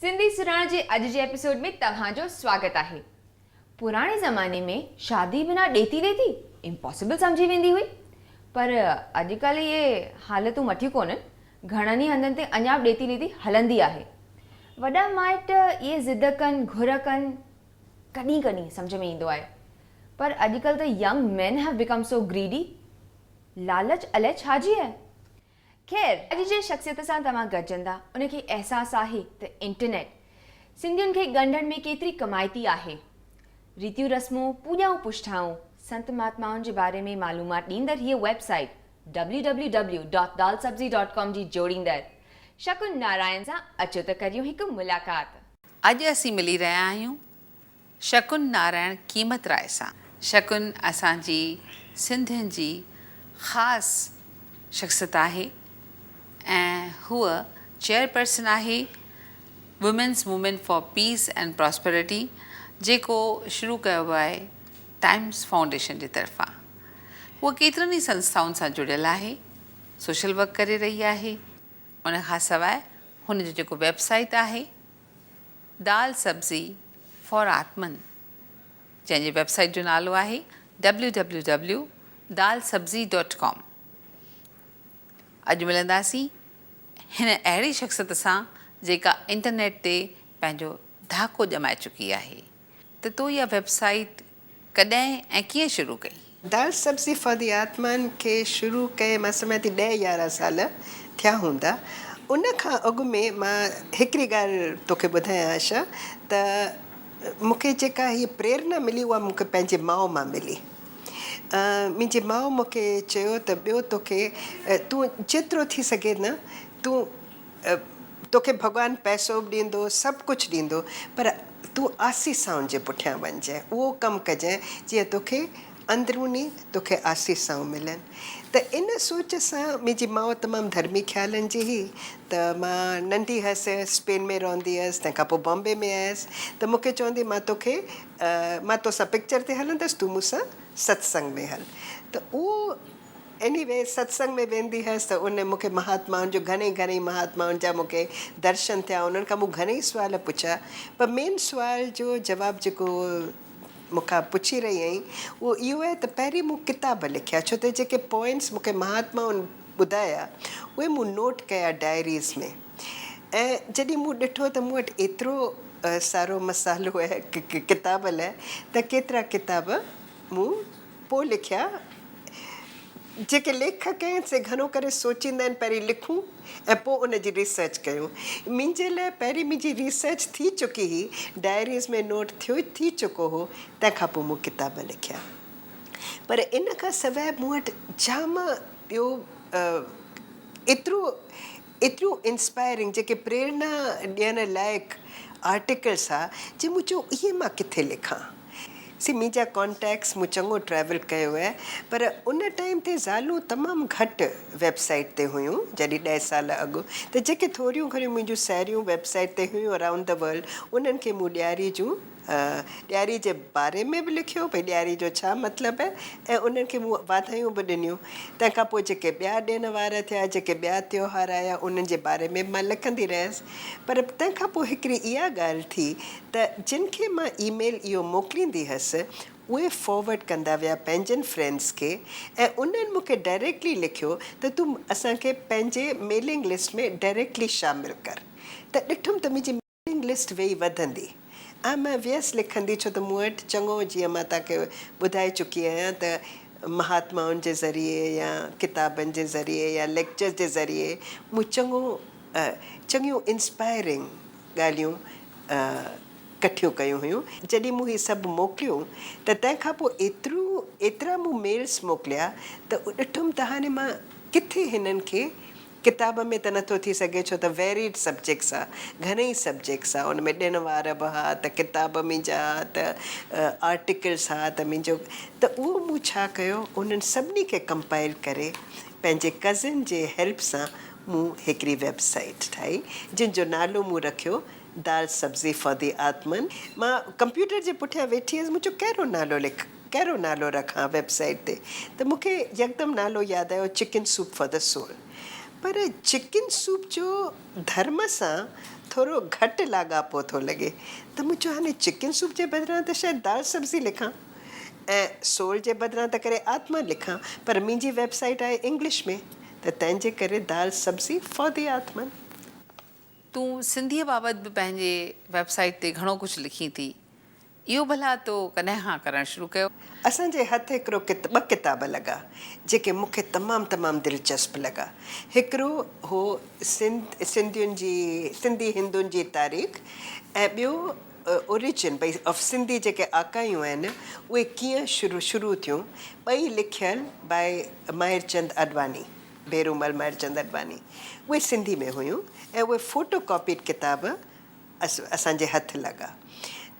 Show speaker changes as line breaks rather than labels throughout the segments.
سنڌي سرهاڻ جي اڄ جي ايپيسوڊ ۾ توهان جو سواگت آهي. پراڻي زماني ۾ شادي بنا ڏيتي ويتي امپاسبل سمجهي ويندي هئي پر اڄڪلهه اهي حالتون مٺيون ڪونهن، گهڻن ئي هنڌن تي اڃا به ڏيتي ويتي هلندي آهي. وڏا مائٽ اهي ضد ڪن گهر ڪن ڪڏهن ڪڏهن سمجهه ۾ ايندو آهي پر اڄڪلهه ته ينگ مين هيو بيڪم سو گريڊي لالچ الائي ڇا جي آهي. خير اڄ جنهن شخصيت سان توهان گڏجندا ان کي احساس آهي ته انٽرنيٽ سنڌين کي ڳنڍڻ ۾ ڪيتري ڪمائتي آهي. ريتيون رسمون، پوڄائون پڇٽائون، سنت مهاتمائن جي باري ۾ معلومات ڏيندڙ هيء website www dot dal sabzi dot com جي جوڙيندڙ شڪن نارائن سان اچو ته ڪريون هڪ ملاقات. اڄ اسين
ملي رهيا آهيون شڪن نارائڻ ڪيمتراء سان. شڪن اسان جي سنڌين جي خاص شخصيت آهي ۽ هوء چيئرپرسن آهي women's movement for peace and prosperity جيڪو شروع ڪيو ويو آهي ٽائمز فائونڊيشن جي طرفان هوء ڪيترن ئي سنسٿائن سان جڙيل آهي سوشل ورڪ ڪري رهي آهي ان کان سواء هن جو جيڪو ويب سائيٽ آهي دال سبزي فار آتمن جنهن جي ويب سائيٽ جو نالو آهي www دال سبزي ڊاٽ ڪام اڄ ملنداسين هن اهڙي شخصيت سان جيڪا انٽرنيٽ تي پنهنجو ڌاڪو ڄمائي چڪي آهي ته تو اها ويب سائيٽ ڪڏهن ۽ ڪيئن شروع ڪئي؟ دال سبزي فار
دي آتمان کي شروع ڪئي مان سمجهان ٿي ڏهه يارهن سال ٿيا هوندا. ان کان اڳ ۾ مان هڪڙي ڳالهه توکي ٻڌايان آشا ته مون کي جيڪا هيء پريرنا ملي اها مون کي پنهنجي ماء مان ملي. منهنجي ماء مون کي چيو ته ٻيو توکي تون جيترو ٿي سگهي نه تون توکي ڀڳوان پئسو به ڏيندو سڀ ڪجهه ڏيندو پر تون آسي سائون جي پٺيان وڃجئه اهو ڪم ڪجئه جيئن توکي اندروني توکي آسي سائون ملن ته ان سوچ سان منهنجي ماء تمام ڌرمي خيالن جي هئي ته مان ننڍي هيس اسپين ۾ رهندي هيس تنهن کانپوء بامبي ۾ آيس ته مونکي چوندي مان توکي مان توسان پڪچر تي هلندس تون مون سان ستسنگ ۾ هل ته اهو انهي ويز ستسنگ ۾ ويندي هيس ته ان مونکي مهاتمائن جو گهڻي گهڻي مهاتمائن جا مونکي درشن ٿيا انهن کان مون گهڻي سوال پڇيا پر مين سوال جو جواب جيڪو مونکان پڇي رهي هئين اهو اهو آهي ته پهرين مون ڪتاب لکيا ڇو ته جيڪي پوائنٽس مونکي مهاتمائن ٻڌايا اهي مون نوٽ ڪيا ڊائريز ۾ ۽ جڏهن مون ڏٺو ته مون وٽ ايترو سارو مسالو آهي ڪتاب لاء ته ڪيترا ڪتاب مون پوء لکيا جيڪي ليکڪ ڪنهن سي گهڻو ڪري سوچيندا آهن پهرين لکون ۽ پوء ان جي ريسرچ ڪيون منهنجي لاء پهرين منهنجي ريسرچ ٿي چڪي هئي ڊائريز ۾ نوٽ ٿيو ٿي چڪو هو تنهن کان پوء مون ڪتاب لکيا پر ان کان سواء مون وٽ جام ٻيو ايترو ايتريون انسپائرنگ جيڪي پريرنا ڏيڻ لائق آرٽيڪلس ها جي مون چيو اهي مان ڪٿي لکان سي منهنجا ڪانٽيڪس مون چڱو ٽريول ڪيو هي پر ان ٽائيم تي زالون تمام گهٽ ويب سائيٽ تي هيون جڏهن ڏهه سال اڳ ته جيڪي ٿوريون گهڻيون منهنجون ساهيڙيون ويب سائيٽ تي هيون اراونڊ دي ورلڊ انهن کي مون ڏياري جون ڏياري جي باري ۾ به لکيو ڀئي ڏياري جو ڇا مطلب آهي ۽ انهن کي مون واڌايون به ڏنيون. تنهن کان پوء جيڪي ٻيا ڏين وار ٿيا، جيڪي ٻيا تيوهار آيا انهن جي باري ۾ به مان لکندي رهيس. پر تنهن کان پوء هڪڙي اها ڳالهه ٿي ته جن کي مان اي ميل اهو موڪليندي هيس اهي فارورڊ ڪندا ويا پنهنجن فرينڊز کي ۽ انهن مون کي ڊائريڪٽلي لکيو ته تون اسان کي پنهنجي ميلنگ لسٽ ۾ ڊائريڪٽلي شامل ڪر ته ڏٺم ته منهنجي ويٽنگ لسٽ ويئي وڌندي ۽ مان ويس لکندي ڇو ته مون وٽ چڱو جيئن مان توهان کي ٻڌائي چڪي آهيان ته مهاتمائن جي ذريعي يا ڪتابن جي ذريعي يا ليڪچرز جي ذريعي مون چڱو چڱيون انسپائرنگ ڳالهيون ڪٺيون ڪيون هيون. جڏهن مون هي سڀ موڪليون ته تنهن کان پوء ايترو ايترا مون ميلز موڪليا ته ڏٺم ته هاڻي مان ڪٿي هنن کي ڪتاب ۾ ته نٿو ٿي سگهي ڇو ته ويريڊ سبجيڪس آ گهڻئي سبجيڪس آ ان ۾ ڏڻ وار به ها ته ڪتاب منهنجا ها ته آرٽيڪلس ها ته منهنجو ته اهو مون ڇا ڪيو انهن سڀني کي ڪمپائل ڪري پنهنجي ڪزن جي هيلپ سان مون هڪڙي ويب سائيٽ ٺاهي جنهن جو نالو مون رکيو دال سبزي فار دي آتمن مان ڪمپيوٽر جي پٺيان ويٺي هيس مون چيو ڪهڙو نالو لک. ڪهڙو نالو رکان ويب سائيٽ تي ته مون کي يڪدم نالو ياد آيو chicken soup for the soul پر چڪن سوپ جو ڌرم سان ٿورو گهٽ لاڳاپو ٿو لڳي ته مون چيو هاڻي چڪن سوپ جي بدران ته شايد دال سبزي لکان ۽ سول جي بدران ته ڪري آتما لکان پر منهنجي ويب سائيٽ آهي انگلش ۾ ته تنهن جي ڪري دال سبزي فار دي آتمن.
تون سنڌيء بابت به پنهنجي ويب سائيٽ تي گهڻو ڪجهه لکين ٿي اهو ڀلا تو ڪڏهن کان ڪرڻ شروع ڪيو؟ اسان جي هٿ
هڪڙو ٻه ڪتاب لڳا جيڪي مون کي تمام تمام دلچسپ لڳا. هڪڙو هو سنڌ سنڌين جي سنڌي هندن جي تاريخ ۽ ٻيو Origin of Sindhi جيڪي آڪايون آهن اهي ڪيئن شروع شروع ٿيون ٻئي لکيل by ماهر چند آڏواڻي ڀيرومل ماهر چند آڏواڻي اهي سنڌي ۾ هيون ۽ اهي فوٽو ڪاپيڊ ڪتاب اسان جي هٿ لڳا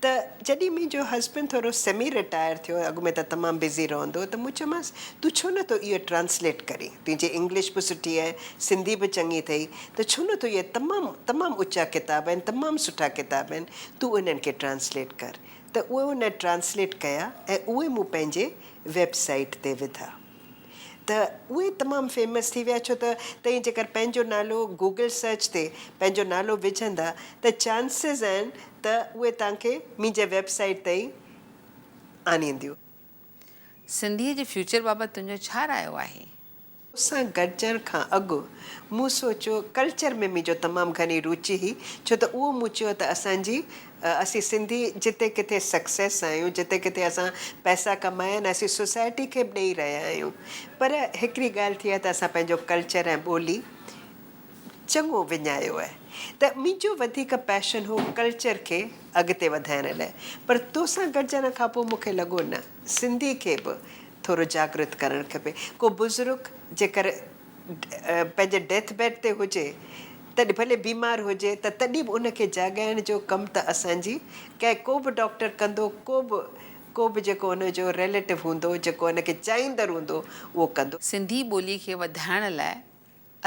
ته جڏهن منهنجو هسبنڊ ٿورو سيمي رٽائر ٿيو، اڳ ۾ ته تمام بزي رهندو هو، ته مون چيومانس، تون ڇو نه ٿو اهو ٽرانسليٽ ڪرين؟ تنهنجي انگلش به سٺي آهي، سنڌي به چڱي اٿئي، ته ڇو نه ٿو اهي تمام تمام اچا ڪتاب آهن، تمام سٺا ڪتاب آهن، تون انهن کي ٽرانسليٽ ڪر. ته اهي هن ٽرانسليٽ ڪيا ۽ اهي مون پنهنجي ويب سائيٽ تي وڌا. ته اهي تمام فيمس ٿي ويا ڇو ته توهين جيڪر پنهنجو نالو گوگل سرچ تي پنهنجو نالو وجهندا ته چانسز آهن ته اهي توهان کي منهنجي ويب سائيٽ تائين آڻينديون.
سنڌيء جي فيوچر بابت تنهنجو ڇا رايو آهي؟ سان
گڏجڻ کان اڳ مون سوچيو، ڪلچر ۾ منهنجو تمام گهڻي روچي هئي ڇو ته اهو مون چيو ته اسان جي اسين سنڌي جتي ڪٿي سڪسيس آهيون جتي ڪٿي اسان پئسا ڪمايا آهن اسين سوسائٽي کي به ڏئي رهيا آهيون پر هڪڙي ڳالهه ٿي آهي ته اسان پنهنجو ڪلچر ۽ ٻولي چڱو وڃايو آهي ته منهنجو وڌيڪ پيشن هو ڪلچر کي اڳتي وڌائڻ لاء پر توسان گڏجڻ کان پوء مونکي لڳو نه سنڌي کي به ٿورو جاگرت ڪرڻ کپي ڪو بزرگ جيڪر پنهنجي ڊيٿ بيڊ تي هجي تڏهن ڀلي بيمار هجي ته تڏهن به ان کي جاڳائڻ جو ڪم ته اسان جي ڪنهن ڪو به ڊاڪٽر ڪندو ڪو به ڪو به جيڪو ان جو ريليٽو هوندو جيڪو ان کي چاهيندڙ هوندو اهو ڪندو. سنڌي ٻولي کي
وڌائڻ لاء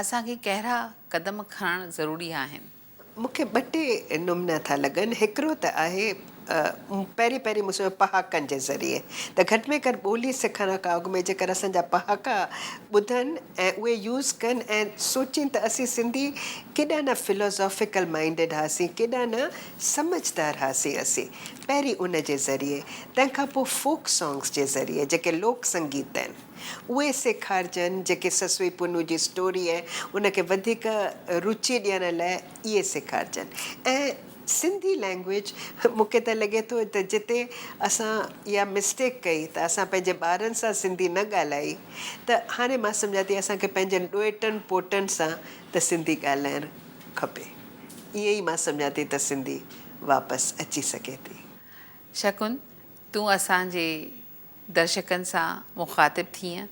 اسان کي ڪهڙا قدم کڻڻ ضروري آهن؟ مون کي ٻه ٽي
نمنا ٿا لڳن، هڪڙو ته آهي پهرين پهرين مون سمجهيو پهاڪن جي ذريعي ته گهٽ ۾ گهٽ ٻولي سکڻ کان اڳ ۾ جيڪر اسان جا پهاڪا ٻڌن ۽ اهي يوز ڪن ۽ سوچين ته اسين سنڌي ڪيڏا نه فلوزافيڪل مائينڊڊ هئاسين ڪيڏا نه سمجهدار هئاسين اسين پهرين ان جي ذريعي تنهن کان پوء فوڪ سانگس جي ذريعي جيڪي لوڪ سنگيت آهن. اهي سيکارجن جيڪي سسوئي پونو جي اسٽوريء ان کي وڌيڪ روچي ڏيڻ لاء اهي سيکارجن ۽ سنڌي لئنگويج مون کي ته لڳي ٿو ته جتي اسان اها مسٽيڪ ڪئي ته اسان پنهنجي ٻارن سان سنڌي نه ڳالهائي ته هاڻي مان سمجهان ٿي اسان کي پنهنجن ڏوئٽن پوٽن سان ته سنڌي ڳالهائڻ کپي ائين ئي مان سمجهان ٿي ته سنڌي واپس اچي سگهي ٿي. شڪن،
تون اسان جي درشڪن سان مخاطب ٿينء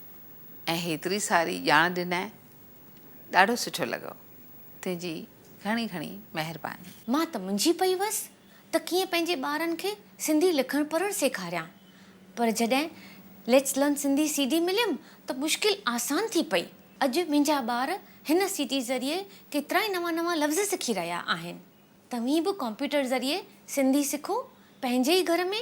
۽ هيتري ساري ڄاڻ ڏنائين، ڏاڍو سٺو لڳو. تنهنجي گهڻي گهڻي مهرباني. مان ته منجهي
پئي ويس ته ڪيئن پنهنجي ٻارن کي سنڌي لکڻ پڙهڻ سيکاريان، پر جڏهن Let's Learn Sindhi C D مليم ته مشڪل آسان ٿي پئي. اڄ منهنجا ٻار هن سي ڊي ذريعي ڪيترائي نوان نوان لفظ سکي رهيا آهن. توهين به ڪمپيوٽر ذريعي سنڌي سکو، پنهنجي ئي گهر ۾.